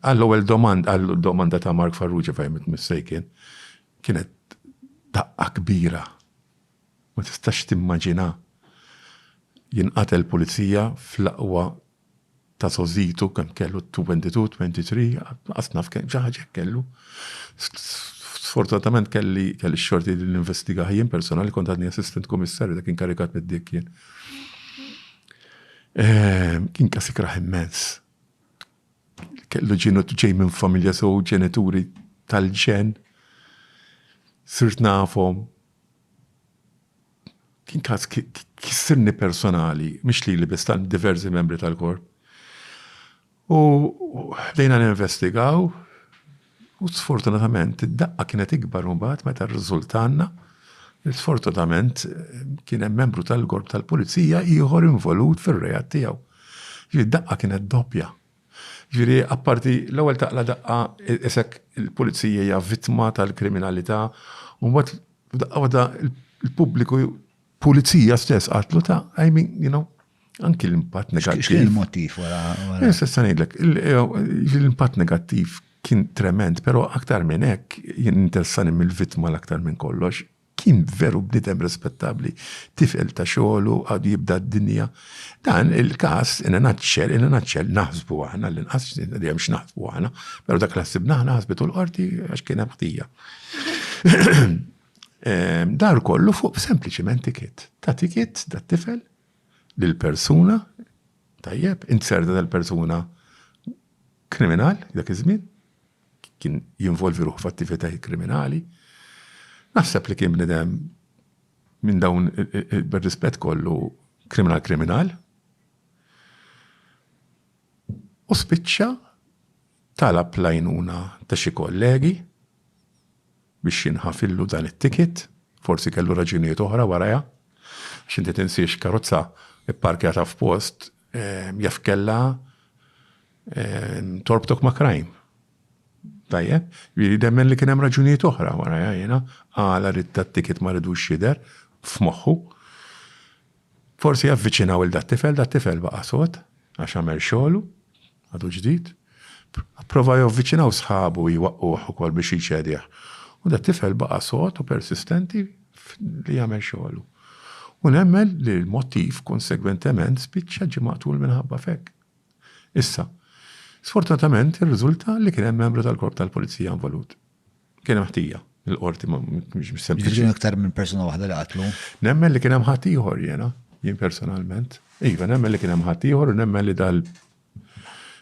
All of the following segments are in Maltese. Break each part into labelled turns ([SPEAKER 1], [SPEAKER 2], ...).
[SPEAKER 1] Għall-ewwel domanda, għall-domanda ta' Mark Farrugia fehmiet mistejken, kienet daqqa kbira. Ma tistax timmaġina jinqatel pulizija fl-aqwa ta' sożitu kemm kellu 22, 23, qas naf kemm xi ħaġa kellu. Sfortunatament kelli kelli xorti li ninvestigah jien personali kont għadni assistant kummissarju dak inkarikat mid-dik jien. Ehm, kien kas ikrah immens. kellu ġinu ġej minn familja so ġenituri tal-ġen. Sirt nafhom. Kien każ kissirni personali, mhix li li bistan diversi membri tal-korp. U ħdejna ninvestigaw, U sfortunatament id-daqqa kienet ikbar imbagħad meta rriżultalna li sfortunatament kien hemm membru tal-korp tal-pulizija ieħor involut fir-reat tiegħu. Ġifieri d-daqqa kienet doppja. Ġifieri apparti l-ewwel taqla daqqa isek il-pulizija hija vittma tal-kriminalità u mbagħad f'daqqa waħda l-pubbliku Pulizija stess qatlu ta' I mean, you know, anki l-impatt negattiv. X'kien
[SPEAKER 2] il-motiv wara? Jessa ngħidlek,
[SPEAKER 1] l-impatt negattiv kien trement, pero aktar minn hekk, jien interessani mill-vittma l-aktar minn kollox, kien veru bnidem rispettabli, tifel ta' xogħlu għadu jibda d-dinja. Dan il-każ in a nutshell, in a nutshell naħsbu aħna l-inqas dejjem x'naħsbu aħna, però dak l-ħsibna aħna ħasbitu l-qorti għax kien hemm ħtija. Dar kollu fuq sempliċiment tikit. Ta' tikit da' tifel lil persuna tajjeb, inzerda dal-persuna kriminal dak iż-żmien, kien jinvolvi ruħu f'attivitajiet kriminali. Naħseb li kien bnidem minn dawn bir-rispett kollu kriminal kriminal. U spiċċa talab lajnuna ta' xi kollegi biex jinħafillu dan it-ticket, forsi kellu raġunijiet oħra warajha, għax inti tinsiex karozza pparkjata f'post jaf kellha torbtok ma' crime. Tajjeb? Jiġifieri nemmen li kien hemm raġunijiet oħra warajha jiena għala ridt dat-ticket ma ridux jidher f'moħħu. Forsi avviċinaw 'il dat-tifel, dat-tifel baqa' sod għax għamel xogħlu, Għadu ġdid. Pprova javviċinaw sħabu u jwaqquh ukoll biex jċedih. U dat-tifel baqa' sod u persistenti li jagħmel xogħlu. U nemmen li l-mottiv konsegwentement spiċċa ġie maqtul minħabba f'hekk. Issa, sfortunatament irriżulta li kien hemm membru tal-Korp tal-Pulizija involut. Kien hemm ħtija, il-qorti ma mhux sempliċi. Kien aktar minn persuna
[SPEAKER 2] waħda li qatlu. Nemmen li kien hemm ħadd
[SPEAKER 1] ieħor jiena, jien personalment. Iva, nemmen li kien hemm ħadd ieħor u nemmen li dal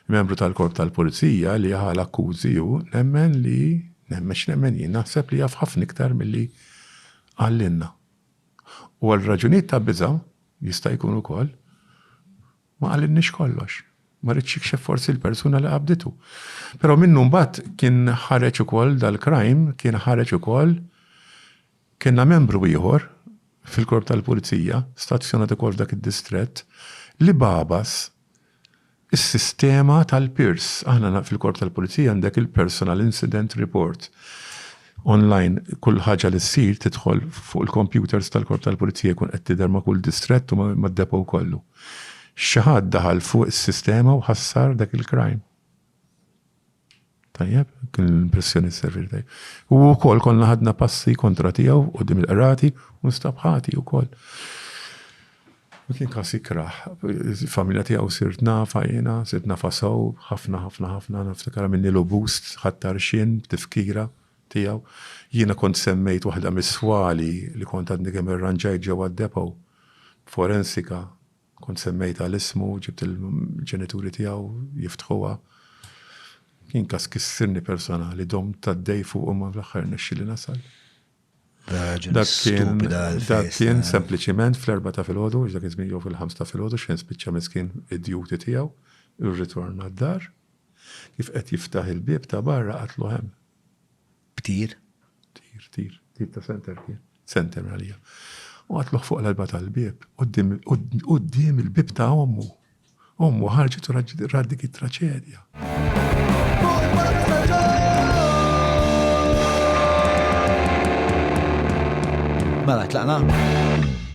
[SPEAKER 1] membru tal-korp tal-pulizija li ħal akkużi u nemmen li nemmen x'nemmen jien naħseb li jaf ħafna iktar milli għallinna. U għal raġunijiet ta' biża' jista' jkun ukoll Ma qalilniex kollox. Ma ridx jikxef forsi l-persuna li qabditu. Però minnu mbagħad kien ħareġ ukoll dal-crime, kien ħareġ ukoll Kellna membru ieħor fil-Korp tal-Pulizija, stazzjonat ukoll f'dak id-distrett, li bagħbas is-sistema tal-PIRS. Aħna fil-Korp tal-Pulizija għandek il-Personal Incident Report. online kull ħaġa li ssir tidħol fuq il-kompjuters tal-Korp tal-Pulizija jkun qed tidher ma' kull distrett u mad-depot kollu. Xi ħadd daħal fuq is-sistema u ħassar dak il-crime. Tajjeb, kien l-impressjoni s-servir tajjeb. U wkoll konna ħadna passi kontra tiegħu u dim il-qrati u nstab ħati wkoll. Ma kien każ jikrah. Il-familja tiegħu sirt nafha jiena, sirt nafha sew, ħafna, ħafna, ħafna, niftakar għamilnilu bust, ħadt għarxien b'tifkira tiegħu. Jiena kont semmejt waħda mis-swali li kont għadni kemm irranġajt ġewwa d-depot, b'forensika, kont semmejtha l-ismu, ġibt il-ġenituri tiegħu jiftħuha. Kien każ kissirni personali, domt għaddej fuqu imma fl-aħħar rnexxieli nasal. Dak kien, dak kien sempliċiment fl-erba ta' filgħodu, dak kien żmien jew fil-ħams ta' filgħodu xejn spiċċa miskin id-duty tiegħu, irritorna d-dar, kif qed jiftaħ il-bieb ta' barra qatlu hemm. B'tir?
[SPEAKER 2] Tir, tir,
[SPEAKER 1] tir ta' center kien, center għalija. U qatluh fuq l-alba tal-bieb, quddiem il-bieb ta' ommu. Ommu ħarġet u rat dik it-traċedja. Mela
[SPEAKER 2] tlaqna?